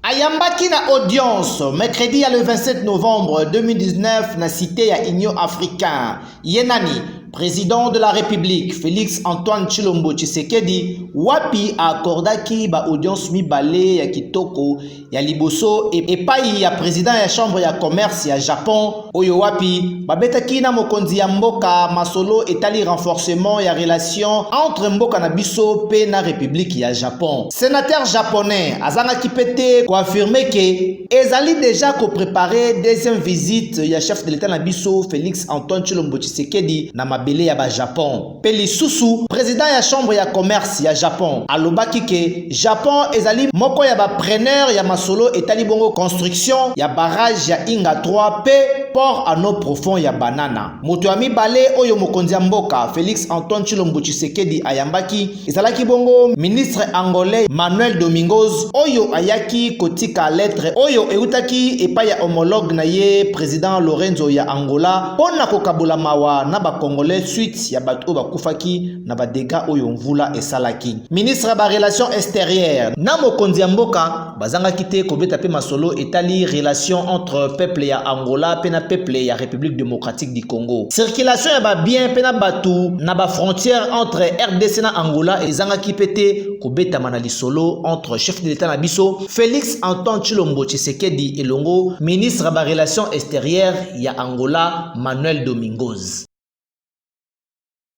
Ayambaki na audience mercredi ya le 27 novembre 2019 na cité ya Union africain. Ye nani? Président de la République Félix Antoine Tshilombo Tshisekedi wapi accordaki ba audience mibale ya kitoko ya liboso epai ya président ya chambre ya commerce ya Japon oyo wapi babetaki na mokonzi ya mboka masolo etali renforcement ya relation entre mboka na biso mpe na republiki ya japon senateur japonais azangaki mpe te koafirme ke ezali deja koprepare deuxième visite ya chef de l'etat na biso félix antoine tshilombo tshisekedi na mabele ya bajapon Pe lisusu president ya chambre ya commerce ya Japon alobaki ke Japon ezali moko ya ba preneur ya masolo etali bongo construction ya barrage ya Inga 3 pe port à eau profond ya Banana. Moto ya mibale oyo mokonzi ya mboka Felix Antoine Tshilombo Tshisekedi ayambaki ezalaki bongo ministre angolais Manuel Domingos oyo ayaki kotika lettre oyo eutaki epai ya homologue na ye president Lorenzo ya Angola Mpo na kokabola mawa na ba Congolais suite ya bato oyo bakufaki na ba degats oyo mvula esalaki, ministre ya ba Relations exterieures na mokonzi ya mboka bazangaki te kobeta mpe masolo etali relation entre peuple ya Angola mpe na peuple ya Republique democratique du Congo. Circulation ya ba biens mpe na bato na ba frontières entre rdc na Angola ezangaki mpe te kobetama na lisolo entre chef de l'Etat na biso Felix Antoine Tshilombo Tshisekedi elongo ministre ya ba Relations exterieures ya Angola Manuel Domingos.